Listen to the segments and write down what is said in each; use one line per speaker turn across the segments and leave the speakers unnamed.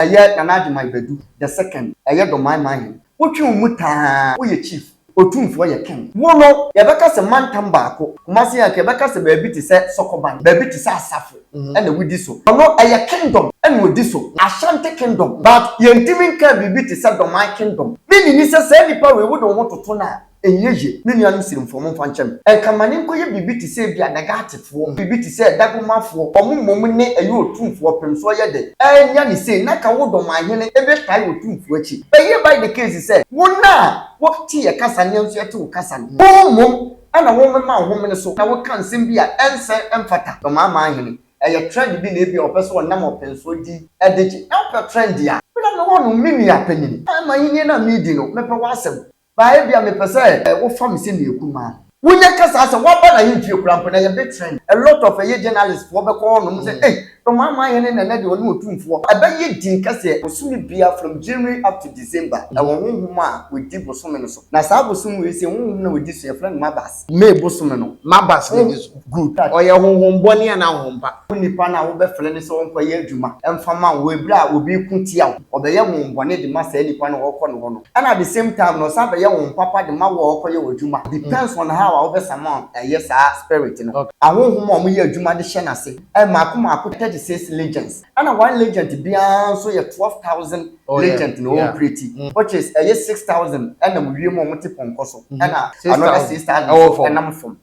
Ɛyɛ Nana Agyemang Badu the second, ɛyɛ Domae Manhen. Wotwe wo mu taa, woyɛ Chief. Otumfoɔ yɛ Ken. Wo no, yɛbɛka sɛ mantam baako, Kumasi Anka, yɛbɛka sɛ baabi te sɛ Sokoban, baabi te sɛ Asafo ɛna wodi so. Ɔno, ɛyɛ Kingdom ɛna odi so, Ashanti Kingdom, but yɛntumi nkaa biribi te sɛ Domae Kingdom. Me nni ni sɛ saa nnipa wei wode wo ho toto no a, Ɛnyɛ yie, me nuanom Sirimfoɔ, momfa nkyɛ me. Ɛnka ma ne nkɔyɛ biribi te sɛ ebia Nagatefoɔ, biribi te sɛ Dagomafoɔ, wɔn mmom ne ɛyɛ Otumfoɔ pem so ɔyɛ dɛ. Ɛnyɛ ne sei, na ka wo dɔm ahene ɛbɛtae Otumfoɔ akyi. Ɛyɛ by the case sɛ, wɔn a wɔte yɛ kasa no yɛn nso yɛte wo kasa no. Wɔn mmom na wɔmema wo homene so na woka nsɛm bi a ɛnsɛ, ɛmfata. Dɔm aman ahene, ɛyɛ trend bi na ebia wɔpɛ sɛ wɔnam ɔpensoɔ di de gye. Na wopɛ trend a, me na mewɔ no, me nua panin. Ɛma ahennie no a meredi no, mepɛ w'asɛm. Ba, ebia mepɛ sɛ wofa me sɛ meyɛ kumaa. Wonya ka saa sɛ woaba n'ahemfie koraa mpo na yɛbɛ trend. A lot of ɛyɛ journalist foɔ bɛkɔ hɔ nom sɛ ei Ɔmanman hene Nana deɛ ɔne Otumfoɔ. Ɛbɛyɛ din kɛseɛ. Bosome biara from January up to December ɛwɔ honhom a wɔdi bosome no so. Na saa bosome wei sei honhom no a wɔdi so yɛfrɛ no Mabas. May bosome no maba stage so. Good touch. Ɔyɛ honhom bɔne anaa honhom pa? Wo nipa no a wobɛfrɛ no sɛ ɔnkɔ yɛ adwuma mfa ma wo wɔ bere a obi reko tia wo, ɔbɛyɛ honhom bɔne de ma saa nipa no a ɔkɔ ne hɔ no ɛna at the same time no ɔsan bɛyɛ honhom papa de ma wo a ɔkɔ yɛ wo adwuma a depends on how a wobɛsama ɛyɛ saa spirit no. Ahonhom a wɔyɛ adwuma de hyɛ n'ase mmaako mmaako 36 legions. Ɛna one legent biara nso yɛ twelve thousand legent na ɔɔpreti which is ɛyɛ six thousand ɛnam wiem a wɔte pɔnkɔ so ɛna another six thousand nso ɛnam fam.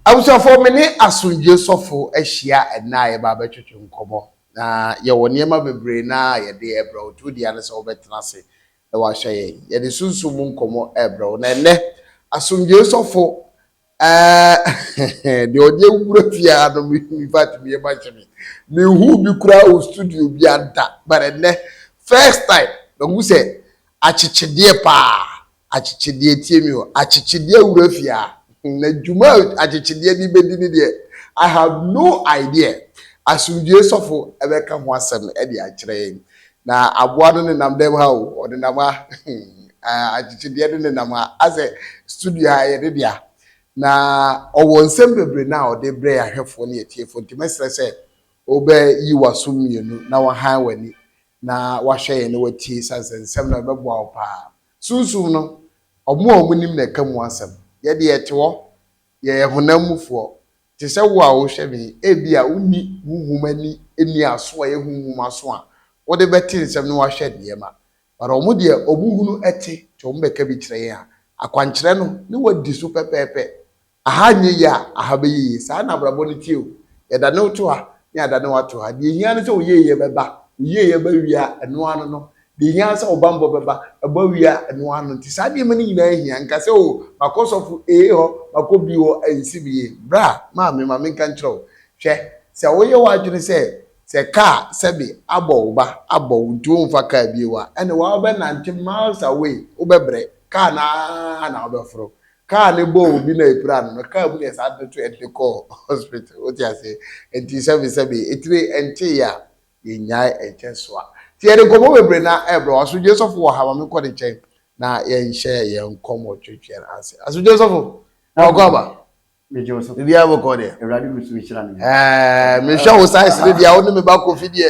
Abusuafoɔ, me ne Asomdwoeɛ Sɔfo ahyia ɛnnɛ a yɛba abɛtwetwe nkɔmmɔ. Na yɛwɔ nneɛma bebree no ara a yɛde rebrɛ wo. Deɛ ɔdi ara ne sɛ wobɛtena ase na woahwɛ yɛn. Yɛde sunsum mu nkɔmmɔ rebrɛ wo. Na ɛnnɛ, Asomdwoeɛ Sɔfo, ɛɛh, deɛ ɔde awura fie ha no, me, in fact, me yam ahye me. Menhuu bi koraa wɔ studio biara da, but ɛnnɛ, first time, mahu sɛ akyekyedeɛ paa. Akyekyedeɛ, tie me o, akyekyedeɛ wura fie a, na dwuma a akyekyedeɛ de bɛdi no deɛ, I have no idea. Asomdwoeɛ sɔfo bɛka ho asɛm de akyerɛ yɛn. Na aboa no nenam dɛm ha o, ɔnenam ha, hmm, akyekyedeɛ no nenam ha, asɛ studio ha yɛ ne dea. Na ɔwɔ nsɛm bebree no a ɔde brɛ yɛn ahwɛfoɔ ne yɛn atiefoɔ, nti mɛsrɛ sɛ wobɛyi w'aso mmienu na wahan w'ani na wahwɛ yɛn na watie, sane sɛ nsɛm no bɛboa wo paa. Sunsum no, wɔn a wɔnim na ɛka mu asɛm. Yɛn de, yɛte hɔ, yɛyɛ honam mufoɔ. Te sɛ wo a worehwɛ me yi, ebia wonni honhom ani nniaso a ɛyɛ honhom aso a wode bɛte nsɛm na woahwɛ nneɛma. But wɔn deɛ, wɔhunu te, nti wɔbɛka bi kyerɛ yɛn a, akwankyerɛ no, na wɔadi so pɛpɛɛpɛ. Aha nyɛ yie a, aha bɛyɛ yie. Saa na abrabɔ no teɛ o. Yɛdane wo to ha na yɛadane wo ato ha. Deɛ ɛhia ne sɛ wo yieyɛ bɛba. Wo yieyɛ ba wie a, ɛno ara no no. Deɛ ɛhia ara ne sɛ wo bammɔ bɛba. Ɛba wie a, ɛno ara no. Nti saa nneɛma no nyinaa hia. Nka sɛ o, makɔ sɔfo A hɔ, makɔ B hɔ, ɛnsi me yie. Bra, maame, ma menka nkyerɛ wo. Hwɛ, sɛ woyɛ w'adwene sɛ, sɛ kaa, sɛbe, abɔ wo ba, abɔ wo nti womfa kaa bio a, ɛnneɛ woa wobɛnante miles away, wobɛbrɛ. Kaa no ara na wobɛforo. Kaa no bɔɔ obi na epira no no, kaa mu na yɛsan de toɛ de kɔɔ hospital. Wote ase? Enti sɛbesɛbe, etire nteeɛ a, yɛnnyae nkyɛ soa. Nti yɛde nkɔmmɔ bebree na ɛrebrɛ wo. Asodwoeɛ sɔfo wɔ ha? Ma menkɔ ne nkyɛn na yɛnhyɛ yɛn nkɔmmɔ twetweɛ no ase. Asodwoeɛ sɔfo, wɔkɔ aba? Megye wo so.
Biribiara bɔkɔɔ deɛ?
Awurade gu so rehyira me.
Ɛɛ, mehwɛ wo
size no deɛ a, wo ne me ba Kofi deɛ.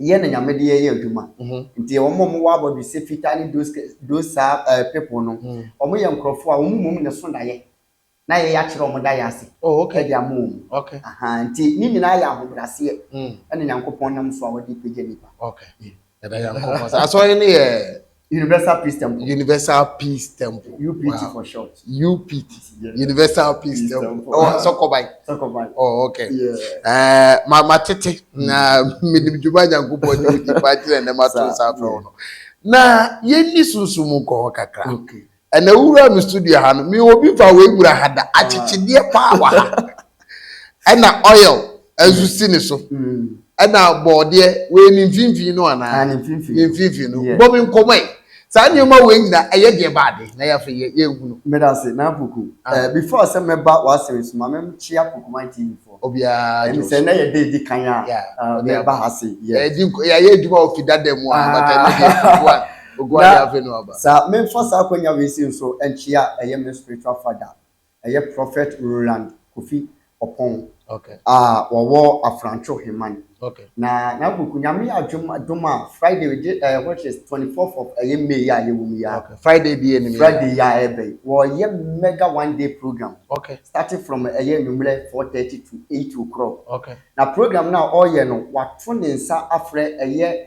Yɛ na
Nyame de yɛ
yɛ adwuma nti yɛ wɔn a wɔn wɔ abɔdwe sɛ fitaa ne those saa people no wɔn yɛ nkorɔfoɔ a wɔn mmom na ɛso daeɛ na yɛ yɛ akyerɛ wɔn daeɛ ase de ama wɔn ahaa nti
ne
nyinaa yɛ ahobraseɛ ɛna Nyankopɔn nam so a ɔde pagya nipa.
Asɔre no yɛ Universal Peace
Temple. Universal Peace
Temple. UPT wow. for short.
UPT.
Yeah. Universal Peace, Peace Temple. Temple. Oh, Sokobai. Sokobai. Oh,
okay.
Yeah.
Uh, ma ma tete mm.
na menim dwuma nyankopɔn ne nipa kyerɛ ne ma to nsa afrɛ wo no. Na yɛnni sunsum nkɔ hɔ kakra. Okay. Ɛnɛ wura me studio ha no, me obi fa wei wura ha da. Akyekyedeɛ paa wɔ ha. Ɛna oil nso si ne so. Ɛna bɔɔdeɛ wei ne mfimfini no anaa? Ne mfimfini no. Bɔ me nkɔmɔ yi. Saa nneɛma wei nyina ɛyɛ deɛ ba ade na yɛafei yɛ yɛ nhu no. Meda se na poku.
Before sɛ mɛba w'asɛm so ma me kyea Pokuman TV foɔ. Obiara gyina so. Ɛne sɛ ɛnɛ
yɛ da edi
kan a mɛba ha se. Yɛdi yɛayɛ
adwuma wɔ fidada mu a but ɛnɛ deɛ Oguadi afe no aba. Sa menfa saa akwanya
wei sei nso nkyea ɛyɛ me spiritual father ɛyɛ Prophet Roland Kofi Oppong Okay. a
wɔwɔ
Afrantwo Heman. Okay. Na
n'agoku
Nyame adwom dom a Friday we de ɛɛ which is twenty fourth of ɛyɛ May yi a yɛwɔ mu yi a Okay. Friday bi yɛ nim yi a.
Friday yi a ɛɛba yi
wɔɔyɛ mega one day program Okay. starting from
ɛyɛ
anwummerɛ four thirty to eight o'clock. Okay. Na program
no a
ɔɔyɛ no wato ne nsa afrɛ ɛyɛ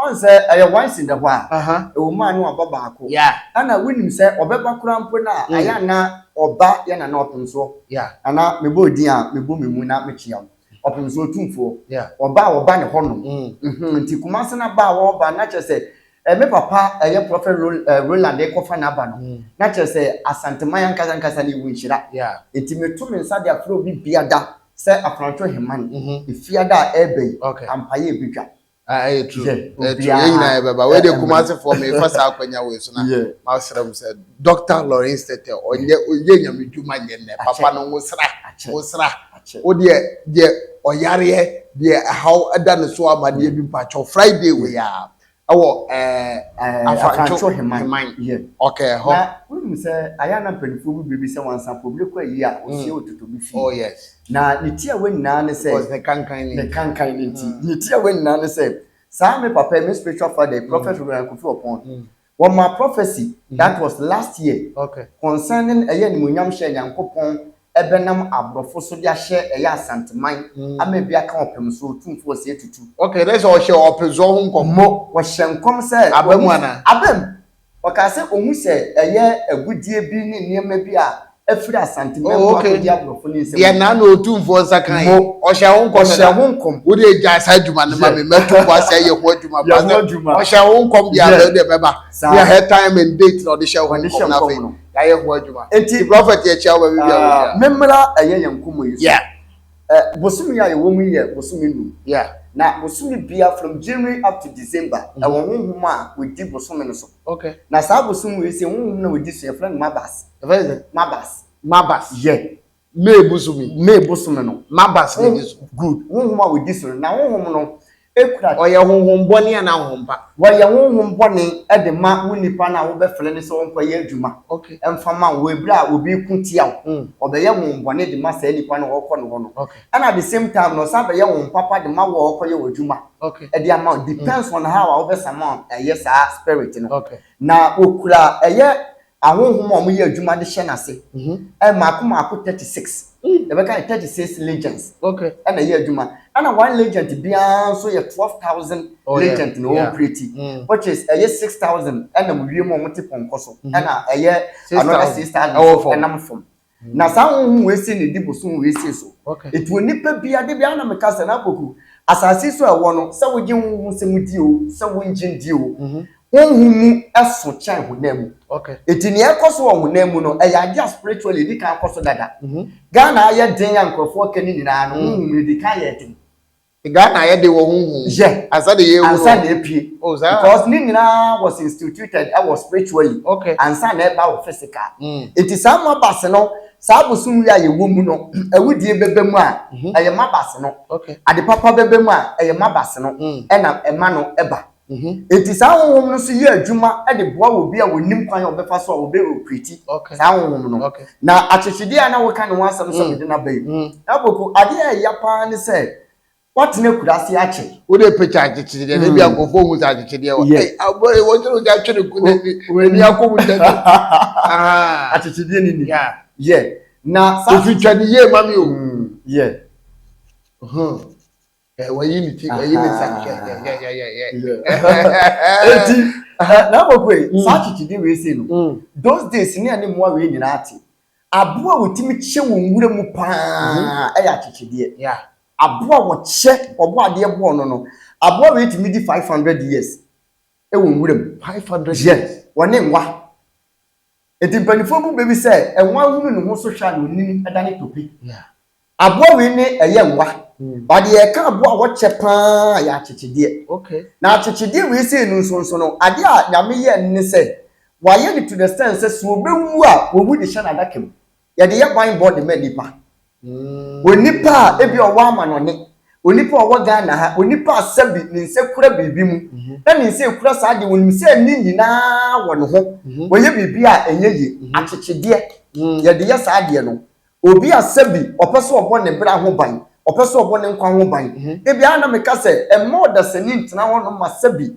Ɔn sɛ ɛyɛ once in the while, ɛwɔ mu a na waba baako, ɛna wonim
sɛ
ɔbɛba koraa mpo no a, ayɛ a na ɔba yɛ Nana Ɔpemsoɔ, Nana
mebɔ wo din a
mebɔ me mu na mekyea wo, Ɔpemsoɔ Otumfoɔ, ɔba a wɔba
ne hɔnom,
mm-hmm, nti Kumase no aba a wɔreba no na kyerɛ sɛ me papa ɛyɛ Prophet Roland rekɔfa n'aba no, na kyerɛ sɛ Asanteman ankasa ankasa no ɛwɔ nhyira, nti meto
me nsa
de afrɛ obi biada sɛ Afrantwo Heman, mm-hmm, Efiada a ɛreba yi, ampa yɛ ɛbɛtwa. Ah, ɛyɛ true. Yeah,
Ɛyɛ true. obiara. Yɛn nyinaa yɛbɛba. Wei de Ɛmɛ. Kumasefoɔ mefa saa akwanya wei so na Yeah. masrɛ mo sɛ Dr. Lawrence Tete ɔnyɛ ɔyɛ nyame dwuma nyɛ nnɛ. Papa Akyɛ. no wosra Akyɛ. wosra. Akyɛ. Wo deɛ deɛ ɔyareɛ deɛ ɛhaw ɛda ne so ama deɛ bi mpakyɛw Friday wei a ɛwɔ ɛɛ Eh, Afantwo Afantwo Heman. Heman. Yeah. ɔkɛ hɔ. Na wonim sɛ
ayɛ a na mpanimfoɔ bi bebisa wɔn ansa mpo, mmerɛ kɔ ayie a, ɔhyia ɔtotobi fie. Oh yes. Na ne
tiawa
nyinaa ne sɛ. Cause ne kankan ne nti. Ne
kankan ne nti. Mm.
Ne tiawa nyinaa ne sɛ, saa me papa yi, me spiritual father yi, Prophet mm. Reverend Kofi Opon, mm. wɔma prophecy mm. that was last year okay. concerning ɛyɛ animuonyam hyɛ Nyankopɔn ɛbɛnam aborɔfo so de ahyɛ ɛyɛ asanteman mm. ama ebi aka ɔpem so otumfoɔ sɛ etutu. Okay, dɛ sɛ ɔhyɛ
ɔpem so ho nkɔm. Mo, wɔhyɛ nkɔm sɛ.
Abam ana? Abam. Ɔkaa sɛ ɔhu sɛ ɛyɛ agudeɛ bi ne nneɛma bi a afiri Asante mmamu oh, okay. akɔdi aborɔfo ne nsɛm. Deɛ naa na ɔtumfoɔ nsa
kan yi, ɔhyɛ ho nkɔm ɔhyɛ ho nkɔm. Wode agya saa adwuma no ma me, mɛto boa sɛ ɛyɛ ho adwuma ba sɛ ɔhyɛ ho nkɔm deɛ abɛ deɛ bɛba. Deɛ her time and date na ɔde hyɛ ho nkɔm na afei yɛayɛ ho adwuma. Nti prɔfɛt yɛkyia
wo baabi bi
a wɔhyia. Memmra ɛyɛ yɛn
nkɔmmɔ yi so. Ɛ
bosome
yi a yɛwɔ mu yi yɛ bosome num. Yeah. Na bosome
biara
from January up to December mm. ɛwɔ honhom a wɔdi bosome no so. Okay. Na saa
bosome wei
sɛ honhom na wɔdi so yɛfrɛ no mabas. Ɛfɛ sɛ? Mabas. Mabas. Yɛ. Yeah. May bosome.
May bosome no. Mabas na
ɛdi so.
Good. Honhom a wɔdi
so no. Na honhom no kura. Ɔyɛ honhom bɔne
anaa honhom pa? Wɔyɛ honhom
bɔne de ma wo nipa no a wobɛfrɛ no sɛ ɔnkɔyɛ adwuma mfa mma
wo. Wɔ bere a
obi reko tia wo, ɔbɛyɛ honhom bɔne de ma saa nipa no a ɔrekɔ ne hɔ no. Ɛna at the same time no ɔsan bɛyɛ honhom papa de ma wo a ɔrekɔyɛ wo adwuma de ama wo.
Depends
on how a wobɛsama ayɛ saa spirit no. Na
okura
ɛyɛ Ahonhom a wɔyɛ adwuma de hyɛ n'ase. Mmaako mmaako thirty six. Yɛbɛka no thirty six legions na ɛyɛ adwuma. Ɛna one legent biara nso yɛ twelve thousand legent na ɔɔpreti. Which is ɛyɛ six thousand ɛnam wiem a wɔte pɔnkɔ so ɛna ɛyɛ another six thousand nso ɛnam fam. Na saa honhom wei sei na ɛdi bosom wei sei so. Nti onipa biara,
da
biara na meka sɛ, na Apoku, asase so a ɛwɔ no, sɛ wogye honhom nsɛm di o, sɛ wongye ndi o, honhom mu so kyɛn honam mu. Nti nea
ɛkɔ so wɔ
honam mu no, ɛyɛ adeɛ a spiritually ɛdi kan kɔ so dada. Ghana ayɛ den a nkurɔfoɔ ka no nyinaa no, honhom no ɛdi kan yɛ den. Ghana yɛ de
wɔ ho hu. Yɛ. Ansa de yɛ ewu.
Ansa na
epie. Oh
saa. Because ne nyinaa was instituted ɛwɔ spiritual yi. Okay. Ansa na ɛba
wɔ
physical. Mm. Eti saa mabase no saa bosom yi a yɛwɔ mu no awudie bɛbɛ mu a ɛyɛ mabase no. Okay. Ade papa bɛbɛ mu a ɛyɛ mabase no. Mm. Ɛna ɛma no ɛba. Enti saa honhom no nso yɛ adwuma de boa obi a ɔnnim kwan a ɔbɛfa so a ɔbɛ operate saa honhom no. Na akyekyedeɛ a na woka ne ho asɛm sɛ mede no aba yi, Aboku, adeɛ a ɛya pa ara ne sɛ woatena akuraase akyɛ. Wode picture akyekyedeɛ
no, ebia nkurɔfoɔ nhu sɛ akyekyedeɛ wɔ ha. Ei, aboa yi, wɔkyere wo sɛ atwe ne ko no ani akɔ mu ntɛm ntɛm. Ahaa.
Akyekyedeɛ no ni. Yeah. Na saa. Ofitwa ne yie
ma me o. Yeah. Huh. Eh, wayi ne ti wayi ne nsa hwɛ yɛyɛyɛyɛ.
eti na mɔkɔ yi mm. saa kyikyidi wei se no mm. those days ne ɛne mmoa wei nyinaa te aboa a wɔtumi kyɛ wɔn nwura mu paa mm-hmm. ɛyɛ akyekyedeɛ aboa wɔkyɛ ɔbɔ adeɛ bɔɔ no no aboa wei tumi di five hundred years ɛwɔ nwura mu five hundred years
wɔne nwa.
Enti mpaninfoɔ bu bɛ bi sɛ ɛnwa ahunu ne ho so hwɛ a na ɔnim da ne tope. Aboa wei ne ɛyɛ nwa. Ba deɛ yɛka aboa a wɔkyɛ pa ara yɛ akyekyedeɛ. Na akyekyedeɛ wei sei no nso nso no, adeɛ a Nyame yɛ no ne sɛ, wayɛ no to the sense sɛ, sɛ ɔbɛwu a, wɔwu de hyɛ n'adaka mu. Yɛde yɛ ban bɔ de ma nnipa. Onipa a ebi ɔwɔ amanɔne, onipa a ɔwɔ Ghana ha, onipa a sɛbi ne nsa kura biribi mu, na ne nsa ekura saa adeɛ, onim sɛ ne nyinaa wɔ ne ho, ɔyɛ biribi a ɛnyɛ yie, akyekyedeɛ, yɛde yɛ saa adeɛ no. Obi a sɛbi ɔpɛ sɛ ɔbɔ ne bra ho ban, ɔpɛ sɛ ɔbɔ ne nkwa ho ban, dabi ara na meka sɛ mma ɔdasani ntena hɔnom ma sɛbi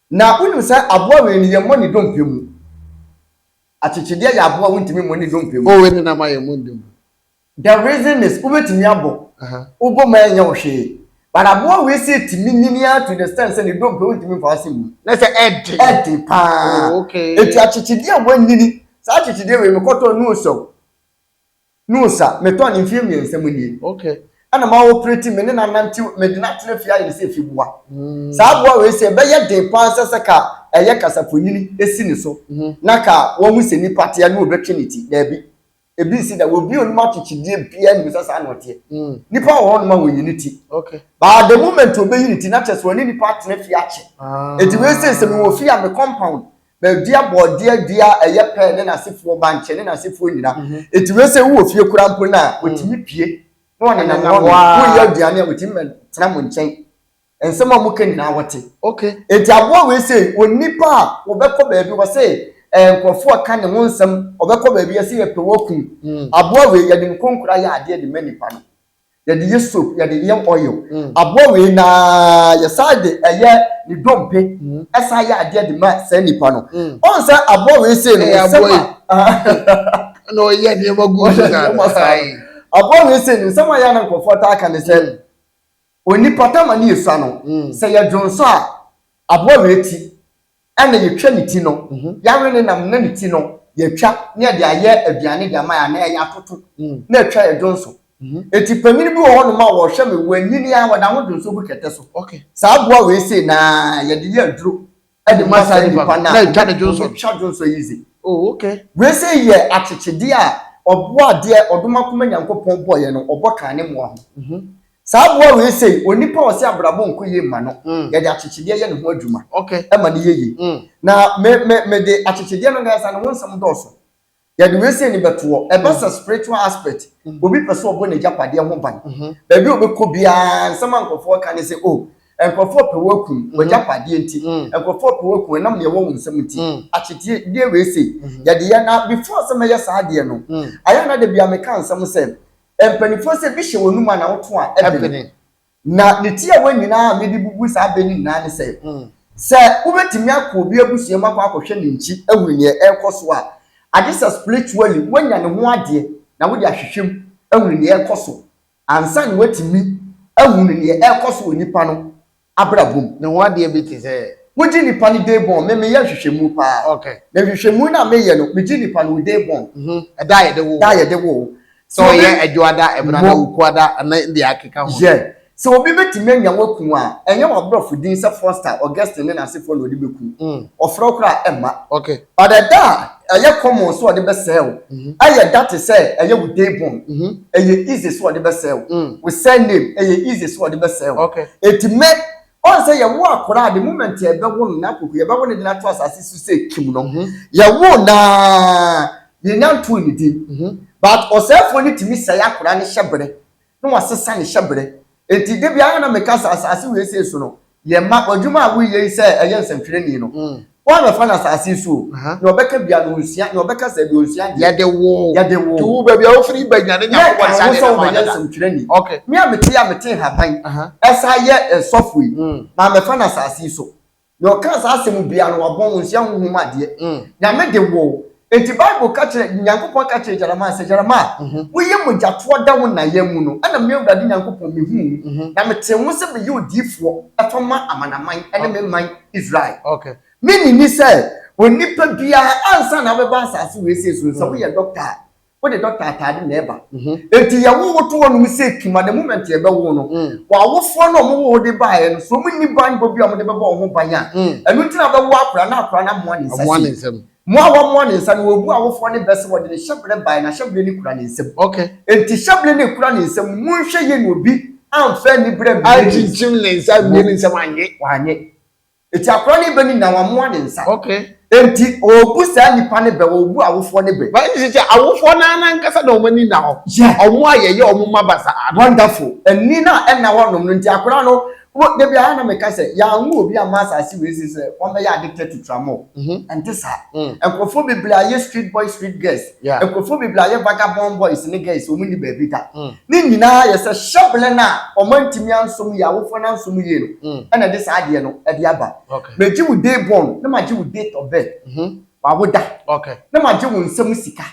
Na wonim sɛ aboa wei no, yɛmmɔ ne dompe mu. Akyekyedeɛ yɛ aboa a wontumi mmɔ ne dompe mu. O wei ne nam a yɛmmɔ ne dompe
mu. The reason
is, wobɛtumi abɔ, wobɔ mu a ɛnyɛ wo hwee. But aboa wei sɛ ɛtumi nyini ara to the extent sɛ ne dompe wontumi mfa ase mmu. Na sɛ ɛden. Ɛden
paa.
Enti akyekyedeɛ a wanyini, saa akyekyedeɛ wei mekɔtɔɔ no o sɛ o. No sa, metɔn mfeɛ mmiɛnsa mu nie. Okay. Ɛna ma operate me ne no anantew, mede no atena fie ayɛ no sɛ efiboa. Mm. Saa aboa wei sɛ ɛbɛyɛ den paa sɛ sɛ ka ɛyɛ kasafonini esi ne so Mhm. na ka wahu sɛ nipa teɛ na obetwe ne ti. Daabi. Ebi nsi da. Obi a onim akyekyedeɛ biara nim sɛ saa na ɔteɛ. Mm. Nipa wɔ hɔnom a wonyi ne ti. Okay. But the moment obeyi ne ti, na kyerɛ sɛ ɔne nipa atena fie akyɛ. Ah. Enti wei sɛ sɛ mewɔ fie a me compound Bɛdua bɔɔdeɛ dua a ɛyɛ pɛ ne n'asefoɔ, bankye ne n'asefoɔ nyina. Enti wei sɛ wowɔ fie koraa mpo no a, wɔtumi pue na wɔnenam hɔ ara. Woyɛ aduane a, wɔtumi bɛtena mo nkyɛn. Nsɛm a moka nyinaa wɔte. Enti aboa wei sɛ onipa a wɔbɛkɔ baabi, wɔse nkurɔfoɔ reka ne ho nsɛm, wɔbɛkɔ baabi, wɔse yɛpɛ wo akum. Aboa wei, yɛde nkonkora yɛ adeɛ de ma nnipa no. yɛde yɛ soap yɛde yɛ oil mm. aboa wei na yɛsan de ɛyɛ ne dompe mm. ɛsan yɛ adeɛ de ma saa nipa no mm. ɔn sɛ aboa wei sei no nsɛm a
na ɔyɛ nneɛma gu so na aboa wei sei
no nsɛm a yɛ na nkurɔfoɔ taa ka ne sɛ mm. onipa tama ne esua no mm. sɛ yɛdwonsɔ a aboa wei ti Ɛna yɛtwa ne ti no, yɛawe ne nam na ne ti no yɛatwa na yɛde ayɛ aduane de ama yɛn anaa yɛayɛ atoto na atwa yɛn dwonso. Enti panin bi wɔ hɔnom a wɔhwɛ me, wɔanyini ara, wɔda ho dwonso gu kɛtɛ so. Saa aboa wei sei na yɛde yɛ aduro de ma saa nnipa no a wɔbɛtwa
dwonso yi dze.
Wei sei yɛ akyekyedeɛ a ɔboa adeɛ ɔdom akoma Nyankopɔn bɔeɛ no ɔbɔ kaa ne mmoa ho. Saa aboa wei sei, onipa a ɔse abrabɔ nkɔ yie mma no, yɛde akyekyedeɛ yɛ ne ho adwuma ma no yɛ yie. Na me me mede akyekyedeɛ no ankasa ne ho nsɛm dɔɔso. Yɛde wei sei no bɛtoɔ, ɛba sɛ spiritual aspect, obi pɛ sɛ ɔbɔ n'agyapadeɛ ho ban. Baabi a ɔbɛkɔ biara, nsɛm a nkurɔfoɔ reka ne sɛ, oh, nkurɔfoɔ pɛ wo akum, w'agyapadeɛ nti, nkurɔfoɔ pɛ wo akum ɛnam deɛ ɛwɔ wo nsam nti, akyekyedeɛ wei sei, yɛde yɛ. Na before sɛ mɛyɛ saa adeɛ no, ayɛ a na da biara meka nsɛm sɛ, Mpanimfoɔ sɛ bi hyɛ w'anum a na woto a ɛbene. Na ne tiawa nyinaa a mede bubu saa bɛ no nyinaa ne sɛ, sɛ wobɛtumi akɔ obi abusua mu akɔ akɔhwɛ ne nkyi ahunu neɛ ɛrekɔ so a, agye sɛ spiritually woanya ne ho adeɛ na wode ahwehwɛ mu ahunu neɛ ɛrekɔ so ansa na woatumi ahunu neɛ ɛrekɔ so wɔ nipa no abrabɔ mu. Ne ho adeɛ bi te
sɛ. Wogye nipa no day
born, me meyɛ nhwehwɛmu paa. Okay. Na nhwehwɛmu no a meyɛ no, megye nipa no wo day born. Mhm, ɛda a yɛde wo wo. Da a yɛde wo wo. Sɛ ɔyɛ
Adwoada, Ɛbenada, Wukuada, ne deɛ akeka ho. Yeah. Sɛ obi bɛtumi
anya wo aku wo a, ɛnyɛ w'aborɔfo din sɛ Foster, Augustine ne n'asefoɔ na ɔde bɛku wo. Mm. Ɔfrɛ wo
koraa a,
ɛmma. Okay. Ɔdɛ da a ɛyɛ common sɛ ɔde bɛsɛɛ wo. Ɛyɛ da te sɛ ɛyɛ wo day born, ɛyɛ easy sɛ ɔde bɛsɛɛ wo. Wo surname, ɛyɛ easy sɛ ɔde bɛsɛɛ wo. Enti me, ɔn sɛ yɛwo akora a the moment yɛbɛwo no na koko, yɛbɛwo no de no ato asase so sɛ kim no. Yɛwo no a, yɛnnya ntoo ne din. But ɔsɛefoɔ no tumi sɛe akora no hyɛ berɛ. na wɔasesa ne hyɛberɛ. Enti da biara na meka sɛ, Asase wei sei so no, yɛ mma w'adwuma a woreyɛ yi sɛ ɛyɛ nsɛntwerɛni no, woammɛfa no asase yi so o, nea ɔbɛka biara no, ɔnsua, nea ɔbɛka sɛɛ deɛ, ɔnsua deɛ. Yɛde wo Yɛde
wo too baabi a wofiri
ba nya
ne Nyankopɔn nsa Yɛkaa wo de sɛ ne ma wobɛyɛ dada. nsɛntwerɛni.
Ok. Me a mete yi
a mete
nhahan, Aha. ɛsan yɛ sɔfo yi, mammɛfa no asase yi so. Nea ɔkaa saa asɛm yi biara no, wabɔ nwonsia honhom mu adeɛ. Nyame de wo. Enti Bible ka kyerɛ, Nyankopɔn ka kyerɛɛ Jeremiah sɛ, Jeremiah, woyɛ mogyatoɔ da wo na yam mu no, ɛna me Awurade Nyankopɔn mehuu wo, na metee wo sɛ meyɛ odiyifoɔ tɔ ma amanaman ne me man Israel. Mennye
nni sɛ
onipa biara, ansa na wobɛba asase wesee so no, sɛ woyɛ dɔkta a, wode dɔkta ataade na ɛba mhm. enti yɛwo wo to hɔ nom sɛ kima the moment yɛbɛwo no mm. wɔawofoɔ no ɔmo wo de baeɛ no so ɔmo nni banbɔ bi a ɔmo de bɛbɔ ɔho ban a mm. ɛno nti na bɛwo akora na akora no amoa ne nsa si mo a wɔmoa ne nsa no wɔbu awofoɔ ne bɛ sɛ wɔde ne hyɛbrɛ baeɛ na hyɛbrɛ ne kura ne nsam enti hyɛbrɛ
ne
kura ne nsam monhwɛ yɛ ne obi amfa ani berɛ mmienu ne nsam
anyɛ wanyɛ
Eti akora no bɛ ni na wɔamoa ne nsa. Okay. Enti
ɔrebu
saa nipa no bɛ, ɔrebu awofoɔ no bɛ. Bɛn sisi sɛ awofoɔ
no ara ankasa na wɔn ani na hɔ. Yeah. Wɔn a yɛyɛ wɔn mma basaa no. Wonderful. Ani
no a ɛna hɔ nom no nti akora no, wo, da biara na meka sɛ yɛanwo obi amma asase wei so sɛ wɔmmɛyɛ addicted to tramol. Mm-hmm. Ɛnte saa. Mm. Nkurɔfoɔ bebree ayɛ street boys, street girls. Nkurɔfoɔ bebree ayɛ vagabond boys ne girls, wɔn nni baabi da. Ne nyinaa yɛ sɛ hyɛbele no a wɔn antumi ansom yie, awofoɔ no ansom yie no na ɛde saa adeɛ no de aba. Megye wo day born na magye wo date of birth, w'awo da, na magye
wo nsa mu
sika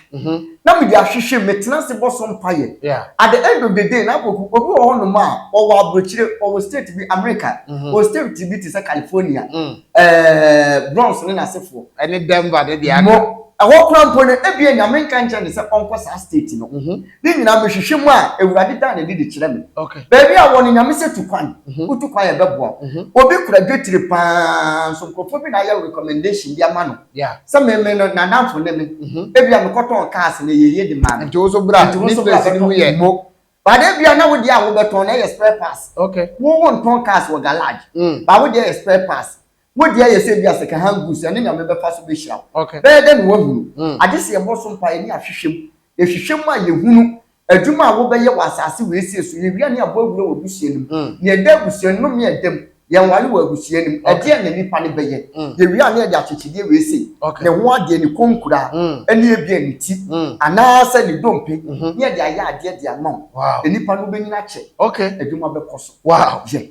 na mede ahwehwɛ mu, metena ase bɔ so mpaeɛ. At the end of the day, Napoku, obi wɔ hɔnom a ɔwɔ aburokyire, ɔwɔ state bi, America, ɔwɔ state bi te sɛ California, Ɛɛ, Bronze ne n'asefoɔ. Ɛne Denver ne deɛ
aka. Mo, ɛhɔ koraa mpo
no, ebia Nyame nka nkyerɛ no sɛ ɔnkɔ saa state no. Mhm. Ne nyinaa mehwehwɛ mu a, Awurade da n'adi de kyerɛ me. Okay. Baabi a wɔ no,
Nyame sɛ
tu kwan. Mhm. Wotu kwan a, ɛbɛboa wo. Mhm. Obi kura dwetire pa ara nso, nkurɔfoɔ bi na ayɛ recommendation bi ama no. Yeah. Sɛ me, me no, n'adamfo ne me. Mhm. Ebia mekɔtɔn cars na ɛyɛ yie de maa no. Nti wo nso bra, Nti wo ne nso
bra place no mu bɛtɔ. yɛ. Mo, Ba de
bia na wo deɛ a wobɛtɔn na ɛyɛ spare parts. Okay. Wo wo ntɔn
cars
wɔ garage. Mm. Ba wo deɛ yɛ spare parts. Wo deɛ yɛ sɛ bia second hand goods ɛne nyame bɛfa so bɛhyira wo. Okay. Bɛyɛ dɛ na wahunu. Mm. Agye sɛ yɛbɔ so mpaeɛ ne ahwehwɛ mu. Yɛhwehwɛ mu a yɛhunu adwuma a wobɛyɛ wɔ asase wei sei so. Yɛwie a ne yɛabɔ awura wɔ abusua no mu. Mm. Nea ɛda abusua nnome a ɛda mu. Yɛnware wɔ abusua no mu. Ɛdeɛn na nipa no bɛyɛ? Mm. Yɛwie a na yɛde akyekyedeɛ wei sei. Okay. Ne ho adeɛ, ne konkura, mm. ɛne ebia ne ti, mm. anaasɛ ne dompe, mm -hmm. ne yɛde ayɛ adeɛ de ama wo. Wow. Nipa no bɛnyina akyɛ. Okay. Adwuma bɛkɔ
so.
Wow. Yɛ.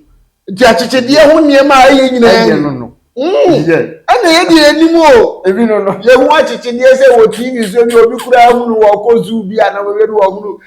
Nti
akyekyedeɛ ho nneɛma a ɛyɛ nyinaa. Ɛyɛ no no. Mm.
Yɛ. Ɛna
yɛ deɛ anim o. Ebi no no. Yɛ ho
akyekyedeɛ
sɛ wɔ TV so bi obi kura ahunu wɔ kɔ zoo bi a na wɔyɛ no wɔ ahunu.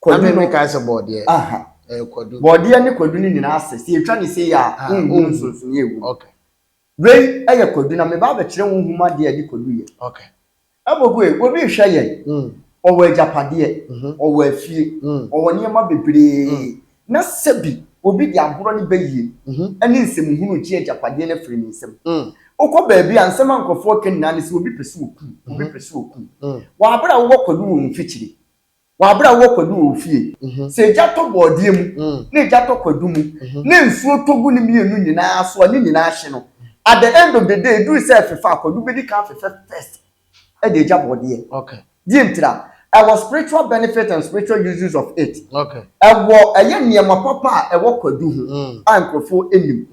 Kwadu no. Ame me kae sɛ bɔɔdeɛ. Aha. Ɛyɛ kwadu. Bɔɔdeɛ ne kwadu no
nyinaa ase. Sɛ yɛtwa no sei a, ah, wonhu oh. nsonsonoeɛ ɛwɔ mu. Okay.
Wei ɛyɛ
kwadu na meba abɛkyerɛ wo nhoma adeɛ a ɛde kwadu yɛ. Okay.
Ɛbɔgoe,
obi rehwɛ yɛn. Mm. Ɔwɔ agyapadeɛ, mm -hmm. ɔwɔ afie, mm. ɔwɔ nneɛma bebree. Mm. Na sɛbi obi de agorɔ ne bɛyie mm -hmm. ɛne nsɛmhunu gye agyapadeɛ no afiri ne nsam. Mm. Wokɔ baabi a nsɛm a nkurɔfoɔ ka nyinaa ne sɛ obi pɛ sɛ ɔkum, obi mm-hmm. pɛ sɛ ɔkum. Mm. Wɔ abere a wowɔ kwadu wɔ mfikyire. Wɔ abere a wowɔ kwadu wɔ wo fie, sɛ egya tɔ bɔɔdeɛ mu, na egya tɔ kwadu mu, na nsuo tɔ gu ne mmienu nyinaa so a, ne nyinaa hye no, at the end of the day, eduru sɛ ɛfefa a, kwadu bɛdi kan afefɛ first de agya bɔɔdeɛ. Deɛ nti a, ɛwɔ spiritual benefit and spiritual uses of it. Ɛwɔ
ɛyɛ nneɛma
papa a ɛwɔ kwadu ho a nkurɔfoɔ nnim.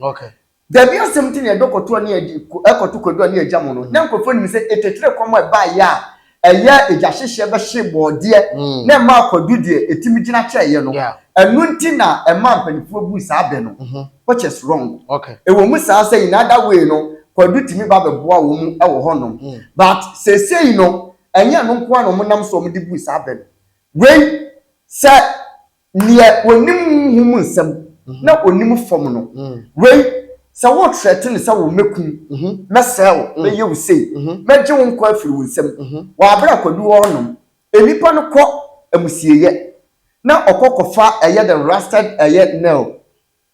Dabi
asɛm nti
na yɛdɔ kɔtoa ne yɛde kɔto kwadua ne agya mu no. Ná nkurɔfoɔ nim sɛ ɛtɛtire kɔm a ɛbaeɛ a ɛyɛ agyahyehyɛ bɛhyee bɔɔdeɛ na ɛmaa kwadu deɛ ɛtumi gyina kyɛeɛ no. Ɛno nti na ɛmaa mpanimfoɔ buu saa bɛ no, which is wrong. Ɛwɔ mu saa
sɛ in
other way no, kwadu tumi ba bɛboa wɔn wɔ hɔnom. But seesei no, ɛnyɛ ɛno nko ara na wɔnam so a wɔde buu saa bɛ no. Wei, sɛ Nea onim honhom mu nsɛm na onim fam no, wei, sɛ woretrɛte no sɛ wo, mɛkum, mɛsɛe wo, mɛyɛ wo sei, mɛgye wo nkwa afiri wo nsam. Wɔ abere a Kwadu wɔ hɔnom, nnipa no kɔ amusieyɛ, na ɔkɔ kɔfa ɛyɛ dɛn, rusted ɛyɛ nail,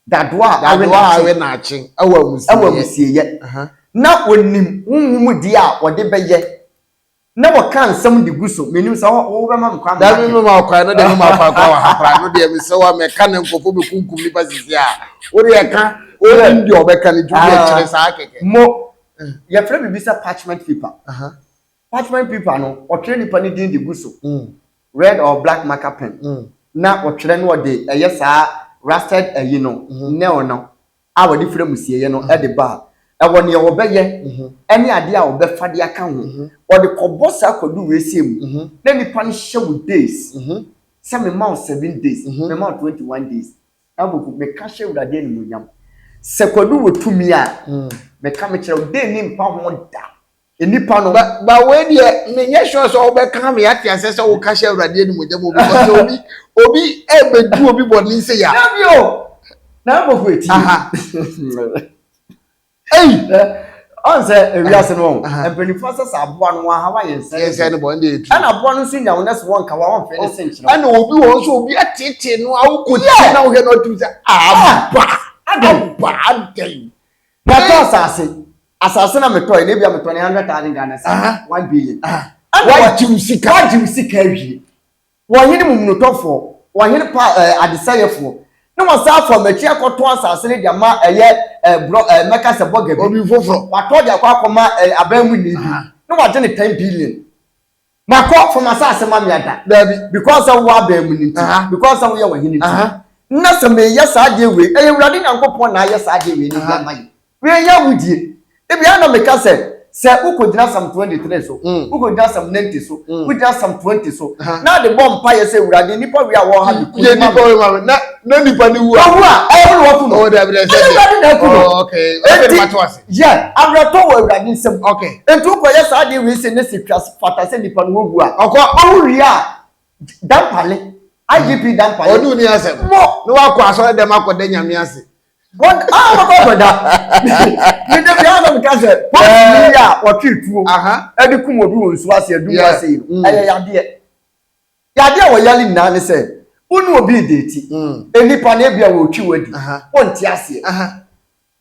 dadoa a awe Dadoa a awe nnaakye wɔ nnaakye wɔ
amusieyɛ. amusieyɛ.
Na onim honhom mu deɛ a ɔde bɛyɛ. Na wɔka nsɛm de gu so. Menim sɛ wo, wobɛma me kwan. Dabi, mema wo kwan. No deɛ,
mema wo kwan koraa wɔ ha koraa. No deɛ, mesrɛ wo a, mɛka na nkurɔfoɔ bɛkunkum nnipa sisi a. Wo deɛ, ka. Wonim deɛ wɔbɛka no nti, wo deɛ, kyerɛ saa kɛkɛ. Mo,
yɛfrɛ biribi sɛ parchment paper. Parchment paper no, wɔtwerɛ nipa no din de gu so. Red or black marker pen na wɔtwerɛ na wɔde ɛyɛ saa rusted ayi no, nail no. a wɔde firi amusieeɛ no de ba a, ɛwɔ deɛ wɔbɛyɛ ne adeɛ a wɔbɛfa de aka ho. Wɔde kɔbɔ saa kwadu wiesie mu na nnipa no hyɛ wo days sɛ mema wo seven days, mema wo twenty one days. Habakkuk, meka hyɛ Awurade animuonyam sɛ kwadu wɔ tumi a, meka mekyerɛ wo, day no mpa ho da. nnipa no. Ba ba wei deɛ
menyɛ sure sɛ wobɛka me ate asɛ sɛ woka hyɛ awurade animonyam o because sɛ obi obi ɛbɛdu obi bɔne sɛ ya. Dabi o
na mbɔfo eti. Ei. Ɔn sɛ ewiase no wɔn mpanyinfoɔ sɛ sɛ aboa no wɔn ahawa yɛn nsɛn. Yɛn nsɛn no bɔ ɛna etu. Ɛna aboa
no nso nya wɔn nɛs
wɔn nka wɔn wɔn fɛ ne se nkyerɛ. Ɛna obi wɔn nso obi
atete no awo ko ti na wohɛ na ɔtum sɛ aba aba adɛn. Yɛtɔ
asase. asase na metɔe na ebia metɔ ne hundred thousand ghana cedi Aha. one billion Aha. ɛna Wagye wa- wo
sika. wagye wo sika awie
wɔhene mumunutɔfoɔ wɔhene pa ɛɛ adesɛeɛfoɔ na wɔsan afa m'akyi akɔtɔn asase no de ama ɛyɛ ɛɛ borɔ ɛɛ mɛka sɛ bɔga bi Obi foforɔ. watɔ de akɔ
akɔma
ɛɛ aban mu ni bi Aha. na wagye ne ten billion Makɔ fam asase ma meada. Daabi. Because sɛ wowɔ abɛn mu no nti. Aha. Because sɛ woyɛ w'Hene nti. Aha. Nnɛ sɛ mereyɛ saa adeɛ wei, ɛyɛ Awurade Nyankopɔn na ayɛ saa adeɛ wei no de Aha. ama yɛn. Wei nyɛ awudie. Ebia na meka sɛ, sɛ wokɔgyina Psalm 23 so, Mm. wokɔgyina Psalm 90 so, Mm. wogyina Psalm 20 so, Aha. na de bɔ mpaeɛ sɛ, Awurade, nnipa wei a wɔwɔ ha no, ku Yɛ no ma nnipa me. wei ma me. Na,
na nnipa no wu a. Wɔwu a, ɛyɛ wo na wɔaku no.
Oh, daabi, daabi, Ɛnyɛ sɛ deɛ. Awurade na
aku no. Oh, okay. Afei na Enti, mate wo ase. Yɛ abrɛtɔ wɔ
Awurade nsam. Ok. Enti wokɔyɛ
saa adeɛ
wei sei na si twa fata sɛ nipa no wɔwu a. Ɔkɔ ɔwu wie a, Dampale, IGP Dampale. Ɔde wo ni asɛm. Mo.
Ne wakɔ asɔre dɛm akɔda Nyame ase. What? Ah,
ɔkɔ akɔda. Me da biara na meka sɛ, pɔnkye yi a wɔtwe tuo de kum obi wɔ nsuo ase adum ase yi no, ɛyɛ yadeɛ. Yadeɛ a wɔyare nyinaa ne sɛ, wo ne obi redeeti, nnipa no ebia wɔretwi wo adi, wonte aseɛ.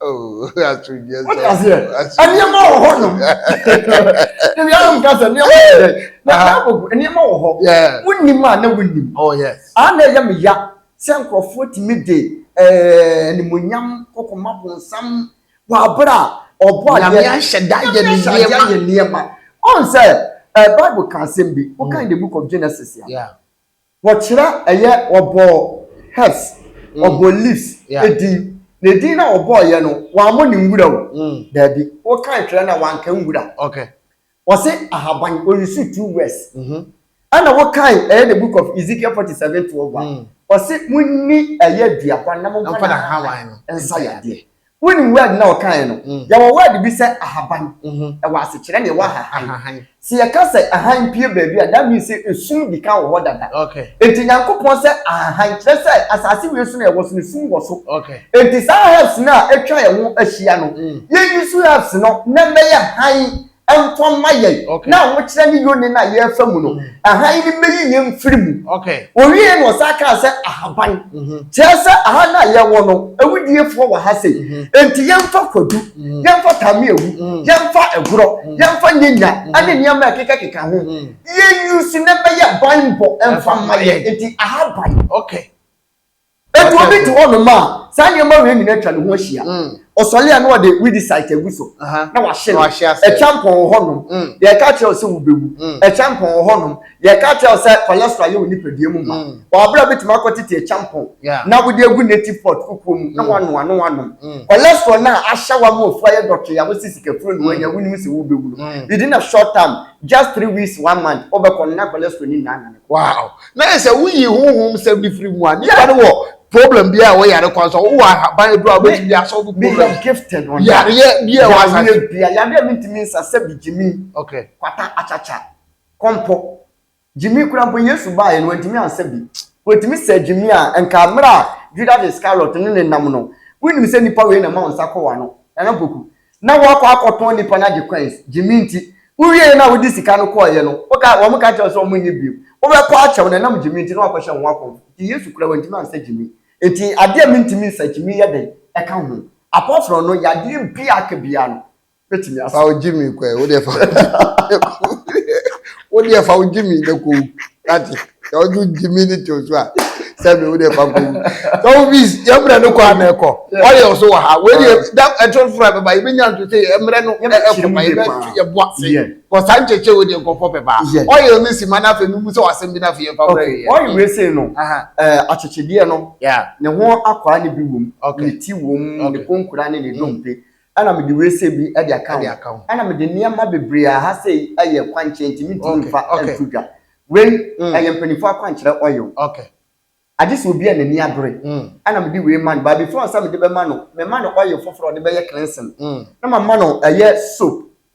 wode aseɛ nneɛma
wɔ hɔ nom ebi ara nka sɛ nneɛma wɔ dɛ na bible nneɛma wɔ hɔ wonim a na wonim a na ɛyɛ
me ya
sɛ nkurɔfoɔ tumi de animonyam kɔkɔma bonsam wɔ abere a ɔbɔ adeɛ ahyɛ da yɛ
ne nneɛma
ɔn sɛ bible ka asɛm bi wokan the book of genesis a
Wɔkyerɛ
yɛ wɔbɔɔ Hess, wɔbɔɔ Liszt din. Na edin no a wɔbɔɔ yɛ no, wɔammɔ no nwura o. Daabi. Wokan twerɛ no a, wɔanka nwura. Wɔse ahaban, ɔresu two words. Ɛna wokan ɛyɛ The Book of Ezekiel forty seven twelve a, ɔse monni ɛyɛ aduaba na momfa n'ahaban
nsa yadeɛ.
Wonim word na ɔkaeɛ no? Mm. Yɛwɔ word bi sɛ ahaban. Mhm. Ɛwɔ asekyerɛ na ɛwɔ ahahan. Ahahan. Sɛ yɛka sɛ hann pue baabi a, that means sɛ esum di kan wɔ hɔ dada. Okay. Enti Nyankopɔn
sɛ
ahahan kyerɛ sɛ asase wei so na yɛwɔ so no, sum wɔ so. Okay. Enti saa
herbs no
a atwa yɛn ho ahyia no, Mm. yɛyi so herbs no na ɛmmɛyɛ hann mfa ma yɛn Okay. na ahokyerɛ ne yone no a yɛrefa mu no ahan no mmɛyi yɛn mfiri mu Okay. ɔwiee no
ɔsan kaa
sɛ ahaban Mhm. kyerɛ sɛ aha no a yɛwɔ no awudiefoɔ wɔ ha sei enti yɛmfa kwadu yɛmfa tame awu yɛmfa agorɔ yɛmfa nyanya ne nneɛma a ɛkekakeka ho Mm. yɛuse na ɛbɛyɛ banbɔ mfa ma yɛn enti ahaban Okay. Enti obi te hɔnom a saa nneɛma wei nyinaa atwa ne ho ahyia. Mm. Ɔsɔre a na ɔde weedicide agu so Aha. na wahye no. Wahye ase. Ɛtwa mpɔn wɔ hɔnom. Mm. Yɛka akyerɛ wo sɛ wobɛwu. Mm. Ɛtwa mpɔn wɔ hɔnom. Yɛka akyerɛ wo sɛ cholesterol yɛ wo nipadua mu ma. Mm. Ɔabra bɛtumi akɔtete ɛtwa mpɔn Yeah. na wode agu native pot kukuo mu na Mm. woanoa na woanom. Mm. Cholesterol no a ahyɛ wo ama ofu ayɛ dɔtwee a wose sikafuro na Mm. woanya wonim sɛ wobɛwu no, Mm. within a short term, just three weeks, one month, wobɛkɔ no na cholesterol no nyinaa anane kɔ. Wow. na yɛ sɛ
woyi honhom sɛm no firi mu a nipa no wɔ problem bi a ɛwɔ yare kwan so wowɔ ahaban aduro a wobɛtumi de asɔfo problem yareɛ
bi a ɛwɔ
asase bi a yareɛ mi ntumi
nsa sɛ bi gyimi kwata
akyakya
kɔmpɔ gyimi kura mpo yesu baeɛ no wantumi ansa bi wɔtumi sɛ gyimi a nka mmerɛ a judas iscariot ne ne nam no wonim sɛ nipa wei na ma wo nsa kɔ wano nana poku na wɔakɔ akɔtɔn nnipa no agye coins, gye me nti, wowiei no a wode sika no kɔeɛ no, woka, wɔn ka kyerɛ wo sɛ wɔn nni bio, wobɛkɔ akyɛ wɔn ɛnam gye me nti na wɔakɔhyɛ wɔn akɔmfo, nti Yesu koraa wantumi ansa gye me, nti adeɛ a mentumi nsa gye me yɛ dɛn ɛka ho, apart from no yadeɛ biaa aka biaa no mɛtumi asa. Fa wo gye me kɔ ɛ, wodeɛ fa
wo gye me kɔ. wo deɛ fa wo gyimi na kɔ wu ate sɛ wode wo gyimi ne to so a sɛ me wo deɛ fa kɔ wu sɛ wo bi yɛ mmerɛ no kɔ a na ɛkɔ ɔyɛ ɔso wɔ ha wei deɛ da ɛto foro a bɛba yɛbɛnya nto sɛ yɛ mmerɛ no ɛkɔ ma yɛbɛto yɛ bo ase kɔ saa nkyɛkyɛ wo deɛ nkɔfɔ bɛba ɔyɛ ne sima no afei mu sɛ wasɛm bi no afei yɛmfa mmerɛ yɛ ɔyɛ wei sei no
akyekyedeɛ no ne ho akwaa ne bi wom ne ti wom ne konkura ne ne dompe Ɛna mede wese bi de aka ho. Ɛna mede nneɛma bebree a ha sei yɛ kwankyerɛ nti mentumi mfa nto dwa. Wei ɛyɛ mpanimfoɔ akwankyerɛ oil.
Agye sɛ obi
a n'ani abere. Ɛna mede wei ma no. But before sɛ mede bɛma no, mema no oil foforɔ a ɔde bɛyɛ cleansing. Na mama no ɛyɛ soap.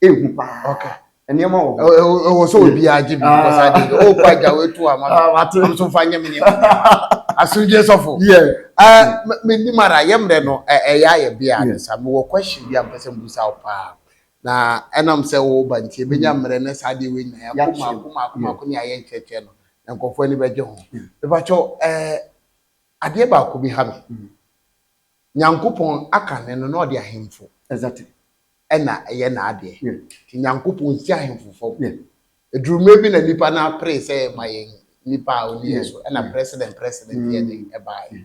ehu paa nneɛma wɔ hɔ. ɛwɔ sɛ obiara
gye bi because ade ɔkɔ agya wetu ama no am so fa nyɛ me nneɛma asomdwe sɔfo menim ara yɛ mmerɛ no ɛyɛ ayɛ bia ne sa mewɔ question bi a mpɛ sɛ mbusa wo paa na ɛnam sɛ woba nti ɛbɛnya mmerɛ ne saa deɛ wei nyinaa yɛako maako maako maako ne ayɛ nkyerɛkyerɛ no na nkurɔfoɔ ani bɛgye ho mepakyɛw adeɛ baako bi ha me nyankopɔn aka ne no na ɔde ahemfo exactly
na ɛyɛ
n'adeɛ. Nti Nyankopɔn nsi ahemfo fam. Ɛduru mmerɛ bi na nnipa no apere sɛ ma yɛn nipa a ɔni yɛn so, ɛna president president yɛ den ɛbaeɛ.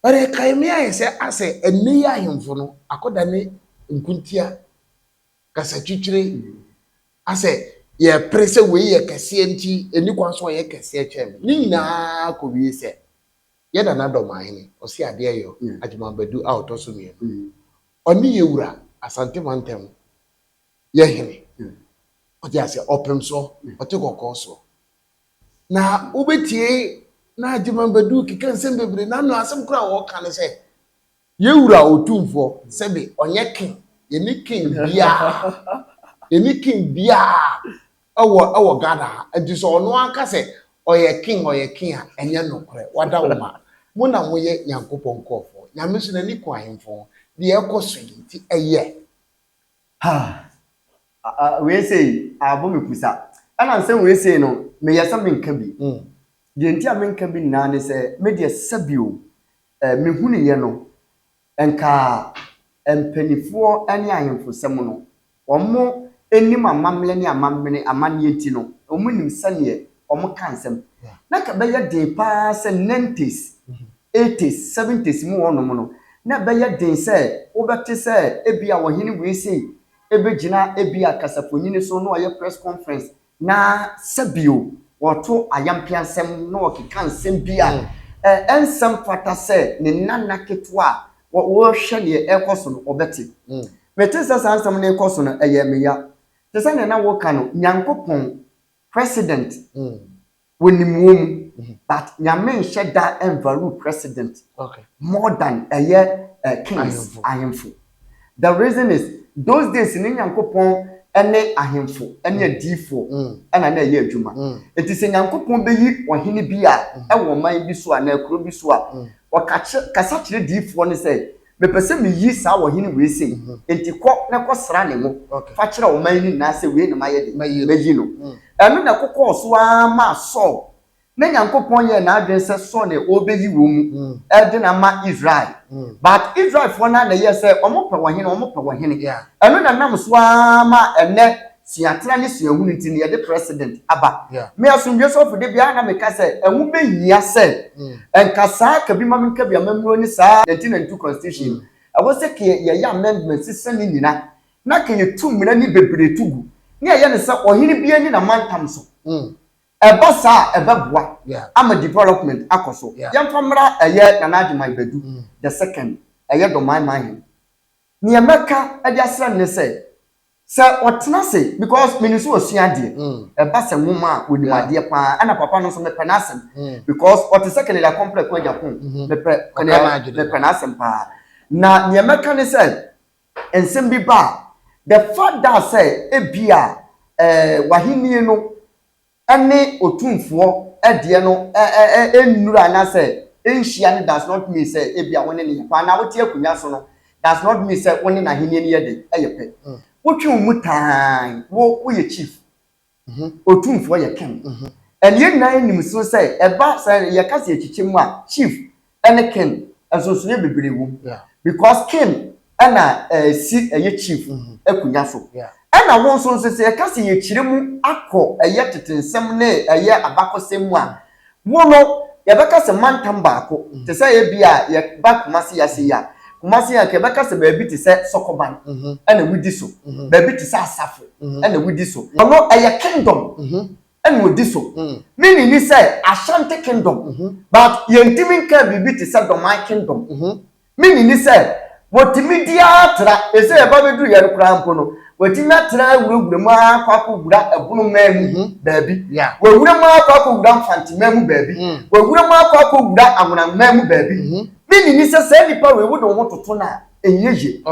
But ɛkae me ayɛ sɛ asɛ ɛnnɛ yi ahemfo no akɔdane nkontia, kasatwitwire, asɛ yɛpere sɛ wei yɛ kɛseɛ nti ɛnni kwan sɛ ɔyɛ kɛseɛ kyɛn me. Ne nyinaa kɔwie sɛ yɛn Nana Dɔmahene Ɔseadeɛyɔ Agyemang Badu a ɔtɔ so mmienu Ɔne yɛn wura Asante mantam yɛ hene. Wote aseɛ? Ɔpem soɔ, ɔte kɔkɔɔ soɔ. Na wobɛtie na Agyeman Badu keka nsɛm bebree. Na no asɛm koraa a ɔka ne sɛ, yɛn wura Otumfoɔ, sɛbe ɔnyɛ king, yɛnni king biara, yɛnni king biara Ɛwɔ ɛwɔ Ghana ha nti sɛ ɔno ara ka sɛ ɔyɛ king ɔyɛ king a ɛnyɛ nokorɛ wada wo ma mo na mo yɛ Nyankopɔn nkorɔfoɔ Nyame nso n'ani ku ahemfo ho deɛ ɛkɔ so yi nti ɛyɛ. Haa
ah wei sei abɔ me pusa ɛna nsɛm wei sei no meyɛ sɛ menka bi deɛ nti a menka bi nyinaa ne sɛ medeɛ sɛbio eh mehunuyɛ no Nkaa mpaninfoɔ ne ahemfo nsɛm no, wɔnim amammerɛ ne amamene, amanneɛ nti no, wɔnim sɛdeɛ wɔka nsɛm. Na nka ɛbɛyɛ den pa ara sɛ nineties, eighties, seventies mu hɔnom no, na ɛbɛyɛ den sɛ wobɛte sɛ ebia ɔhene wei sei bɛgyina ebia kasafonini so na ɔyɛ press conference, Na sɛ bio wɔto ayampeasɛm na wɔkeka nsɛm bi a, ɛ, ɛnsɛ mfata sɛ ne nana ketewa a wɔ, wɔrehwɛ deɛ ɛrekɔ so no, ɔbɛte. Mete sɛ saa nsɛm no rekɔ so no, ɛyɛɛ me ya. Te sɛ deɛ na wɔreka no, Nyankopɔn, President, Wonim wɔ mu but nyame nhyɛ da nvaru president more than ɛyɛ kings ahemfo the reason is those days ne nyankopɔn ne ahemfo ne adiifo ɛna na ɛyɛ adwuma nti sɛ nyankopɔn bɛyi ɔhene bi a ɛwɔ ɔman bi so a na akuro bi so a ɔkakye kasa kyerɛ diifoɔ ne sɛ Mepɛ sɛ meyi saa ɔhene wei sei, enti kɔ na kɔsra ne ngo fa kyerɛ ɔman no nyinaa sɛ wei na mayɛ dɛn? Mayi no. Ɛno na ɛkokɔɔ so ara maa Saul, na Nyankopɔn yɛɛ n'adwene sɛ Saul na ɔrebɛyi wɔn mu de no ama Israel. But Israelfoɔ no ara na ɛyɛɛ sɛ wɔpɛ ɔhene, wɔpɛ ɔhene. Ɛno na ɛnam so ara maa ɛnnɛ suatsena ne suahun ntsi na yɛdze President aba. Me Asomdwee Sɔfo da biara na meka sɛ ɛho bɛhia sɛ nkasaa ka bi ma menka bi amammuro ne saa 1992 Constitution no. Ɛwɔ sɛ ka yɛyɛ amendment sesa ne nyina na ka yɛtu mmara ne bebree to gu na yɛyɛ no sɛ ɔhene bi ani na mantam so. Ɛba saa a ɛbɛboa ama development akɔ so. Yɛmfa mmra ɛyɛ Nana Agyemang Badu the second ɛyɛ Dɔman Manhene. Neɛ mɛka de asrɛ no ne sɛ Sɛ ɔtena ase because menim sɛ ɔsua adeɛ. Mm. Ɛba sɛ nwoma a ɔnim Yeah. adeɛ paa ɛna papa no nso mepɛ n'asɛm Mm. because ɔte sɛ Kennedy Akompere Aku Agya Kong. Mhm. Mepɛ Ɔka Kennedy n'adwene no. mepɛ n'asɛm paa. Na deɛ mɛka ne sɛ nsɛm bi ba a the fact that sɛ ebia eh, w'ahennie no ne Otumfoɔ deɛ no nnuru anaasɛ ɛnhyia no does not mean sɛ ebia wo ne no yɛ pɛ anaa wote akonnwa so no does not mean sɛ wo ne N'Ahennie no yɛ dɛ, ɛyɛ pɛ. Wotwe wo mu tann, wo, woyɛ chief. Otumfoɔ yɛ king. Ɛnneɛ nyinaa nnim so sɛ ɛba sɛ yɛka sɛ yɛkyekyɛ mu a, chief, ɛne kin nsonsonoɛ bebree wom because kin ɛna ɛsi ɛyɛ chief akunya so ɛna wo nso nso sɛ yɛka sɛ yɛkyire mu akɔ ɛyɛ tete nsɛm ne ɛyɛ abakɔsɛm mu a wo no yɛbɛka sɛ mantam baako te sɛ ebi a yɛba Kumasi ha sei a Kumasi anka yɛbɛka sɛ baabi te sɛ Sɔkɔban ɛna wodi so baabi te sɛ Asafo ɛna wodi so ɔno ɛyɛ kingdom. ɛna odi so. Ne nne ni sɛ Ashanti Kingdom, but yɛntumi nkaa biribi te sɛ Dɔman Kingdom. Me nne ni sɛ wɔtumi di ara tra, ɛsɛ yɛba bɛduruiɛ no koraa mpo no, wɔatumi atra awurawura mu ara akɔ akɔwura Ɛbono man mu baabi, wɔawura mu ara akɔ akɔwura Mfante man mu baabi, wɔawura mu ara akɔ akɔwura Anworan man mu baabi. Me nne ni sɛ saa nnipa wei wode wo ho toto no a, ɛnyɛ yie.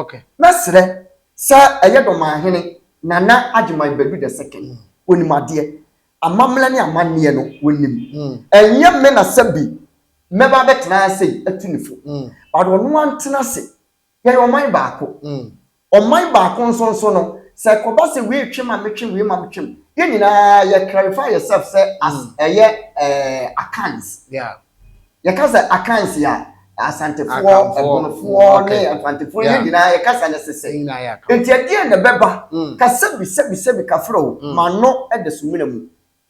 Mɛsrɛ. Sɛ ɛyɛ Dɔmanhene Nana Agyemang Badu the second, wɔnim adeɛ. Amammerɛ ne amanneɛ no, wɔnim. Ɛnyɛ me na sɛbi mɛba abɛtena ha sei atu ne fo. But ɔno ara ntena ase. Yɛyɛ ɔman baako. Ɔman baako nso nso no, sɛ ɛkɔba sɛ wei retwe ma metwe, wei ma metwem, yɛn nyinaa yɛ clarify yɛself sɛ as ɛyɛ eh, Akans. Yeah. Yɛka sɛ Akansi a, Asantefoɔ, Ɛbonofoɔ ne Mfantefoɔ no nyinaa yɛ kasa no sese. Enti ɛdeɛn na ɛbɛba? Kasa bi sɛbi sɛbi kafra o, m'ano da sumina mu.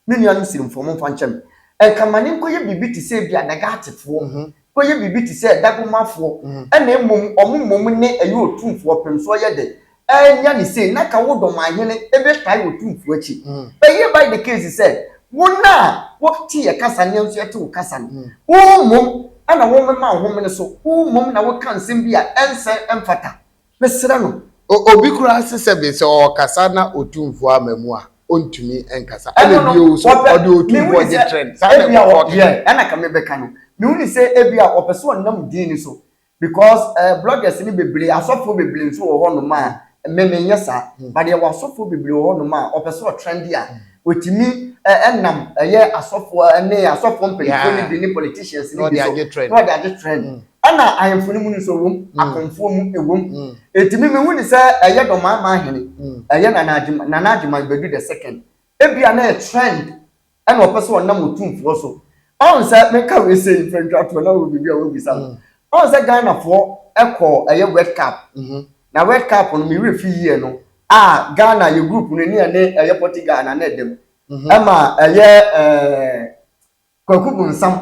Me nuanom Sirimfoɔ, momfa nkyɛ me. Nka ma no nkɔyɛ biribi te sɛ ebia Dagatefoɔ, nkɔyɛ biribi te sɛ Dagomafoɔ, ɛna mmom wɔn mmom ne ɛyɛ Otumfoɔ Ɔpemsoɔ yɛ dɛ? Annya ne sei na anka wo dɔmahene bɛtae wɔ tumfoɔ akyi. Ɛyɛ by the case sɛ wo no a wote yɛ kasa ne yɛn nso yɛte wo kasa no, wo mmom na womema wo ho mene so, wo mmom na woka nsɛm bi a ɛnsɛ, ɛmfata. Mesrɛ no. Obi koraa se
sɛbe sɛ ɔɔkasa na Otumfoɔ amma mu a, ɔntumi nkasa. Ɛna bio nso, ɔde Otumfoɔ gye trend. Saa na nkurɔfoɔ keka. Ɛna ka mebɛka
no. Mehu ne sɛ ebia ɔpɛ sɛ ɔnam din no so Because eh bloggers no bebree asɔfoɔ bebree nso wɔ hɔ nom a me me nyɛ saa but yɛwɔ asɔfoɔ bebree wɔ hɔ nom a ɔpɛ sɛ ɔtrɛnde a ɔtumi nam ɛyɛ asɔfoɔ ne asɔfoɔ mpaninfoɔ no bi ne politicians no bi so na ɔde agye trend ɛna ahemfo no mu no nso ɛwɔ mu akomfoɔ mu ɛwɔ mu ɛti me me hu ne sɛ ɛyɛ dɔmaamaa hene ɛyɛ nana agyeman nana agyeman bɛdu the second ɛbia na ɛyɛ trend ɛna ɔpɛ sɛ ɔnam otumfoɔ so ɔn sɛ menka wei sɛ mfantwatoɔ na wɔ biribi a wɔbisa no mm. ɔn sɛ ghanafoɔ ɛkɔ ɛyɛ wet cap mm-hmm. na wet cap no mewere fi yie no a ghana yɛ group no ne ɛne ɛyɛ portugal na ne ɛdam mm-hmm. ɛma ɛyɛ ɛɛ kwaku bonsam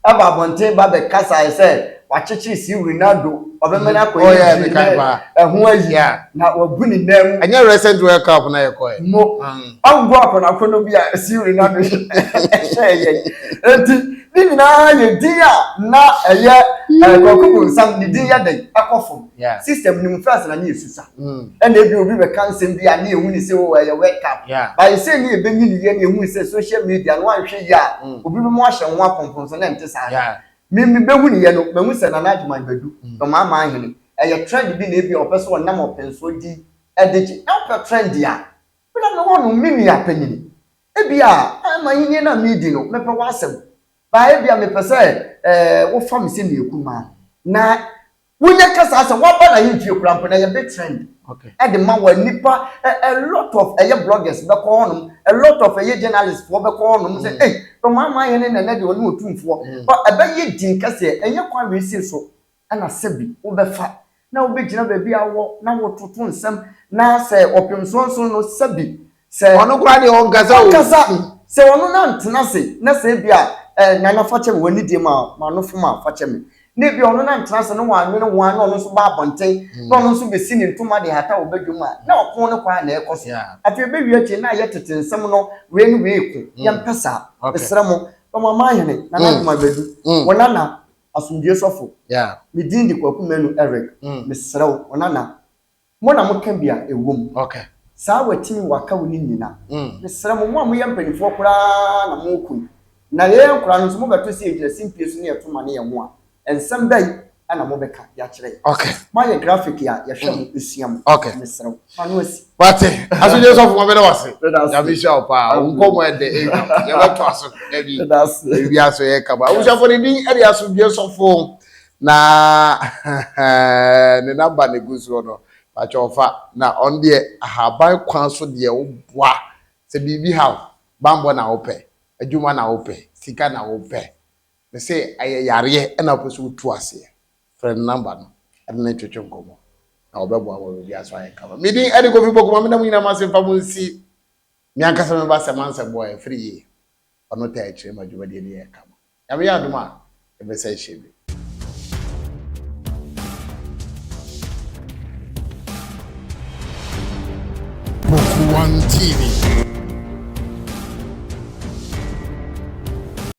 ɛba abɔnten ba bɛ kasaɛ sɛ wakyekyere si Rinaldo ɔbɛmane akɔ yɛ gyiri nɛ ɛho ayi yeah. na wabu ne nan mu. Ɛnyɛ recent World Cup
na yɛ kɔɛ. Mo mm.
ɔngo akɔnɔakɔnɔ bi a si Rinaldo hyɛɛ yɛn. Enti ne nyinaa yɛ din a na ɛyɛ ɛɛ kwaku bonsam ne din yɛ dɛn ɛkɔ fam. Yeah. System no mu France na ne ɛsisa. Mm. Ɛna ebi obi bɛka nsɛm bi a ne ɛhu ne sɛ o oh, ɛyɛ wake up. Yeah. Bayɛ sɛ ne ɛbɛnyi ne yɛ ne ɛhu sɛ social media no anhwɛ yi a mm. obi bɛma wahyɛ ho apɔmpɔn so na ɛnte saa. Yeah. Me me bɛhu ne yɛ no mahu sɛ Nana Adwuma Badu mm. na ɔmaa maa hene. Ɛyɛ trend bi na ebi a ɔpɛ so ɔnam ɔpɛnsoɔ di ɛde gye. Na ɔpɛ trend a wona me wɔ no me nua panyini. Ebi a ɛma yɛnyɛ na medi no mepɛ w'asɛm. Baa ebi a mepɛ sɛ ɛɛ wofa me sɛ ne ɛkumaa na Wonya ka saa sɛ waba n'ahemfie koraa mpo na ɛyɛ big trend ɛde ma wɔn
nipa
a lot of ɛyɛ bloggers bɛkɔ hɔnom a lot of ɛyɛ journalists foɔ bɛkɔ hɔnom sɛ ei Bɛmaamaa hene no ɛnɛ deɛ ɔne otumfoɔ ba ɛbɛyɛ din kɛseɛ ɛnyɛ kwan wei sei so ɛna sɛbi wobɛfa na wobɛgyina baabi a wowɔ na wototo nsɛm na sɛ ɔpemsoɔ nson no sɛbi Sɛ. Ɔno koraa deɛ ɔnkasa
o. Ɔnkasa. Sɛ ɔno na ntena
ase na sɛ ebi a ɛɛ nana fakyɛ me w'ani deɛ ma m'ano fom a fakyɛ me na ebi a ɔno na ntena ase na w'anwene ho ara na ɔno nso ba abɔnten na ɔno nso bɛsi ne ntoma de hata wɔ badwam a na ɔko no kwa na ɛkɔ so afei ɛbɛwie akyire na ayɛ tete nsɛm no wei ne wei ko mm. yɛmpɛ saa mesrɛ mo ɔmama hene nana mm. adoma bɛdu mm. wɔ nana asomdue sɔfo medin de kwaku manu eric mesrɛ wo ɔnana Mo na moka bi a ɛwɔ mu. Saa watini waka wo no nyina. Mesrɛ mo, mo a moyɛ mpanifoɔ koraa na mo kun, na yɛyɛ nkoraa no nso mobɛto sɛ yɛgyina simpie so na yɛto ma ne yɛn ho a, nsɛm bɛn na mobɛka de akyerɛ yɛn? Moayɛ graphic a yɛhwɛ mo sua mo. Mesrɛ wo, fa no asi. Wate asodie
sɔfo ma mene wase nyame hyira wo paa wo nkɔmɔ ɛdɛ yɛbɛto aso dabi biribi aso yɛ kama abusuafo ne din ɛde asodie sɔfo Na ne number na egu so hɔ no pakyɛw fa na ɔno deɛ ahaban kwan so deɛ woboa sɛ biribi ha wo banbɔ na wopɛ adwuma na wopɛ sika na wopɛ me se ɛyɛ yareɛ ɛna wopɛ sɛ wotu aseɛ frɛ no number no ɛne no ntwetwe nkɔmmɔ na wɔbɛboa ma biribi aso ayɛ kama me din ɛne kofi bɔkoma mena mo nyinaa mase mfa mo nsi me ankasa me ba sɛ mansɛ boa ɛfiri yie ɔno taa akyire ma dwumadie no yɛ kama Nyame yɛ adom a, yɛbɛsan ahyia bio. Kpofua TV.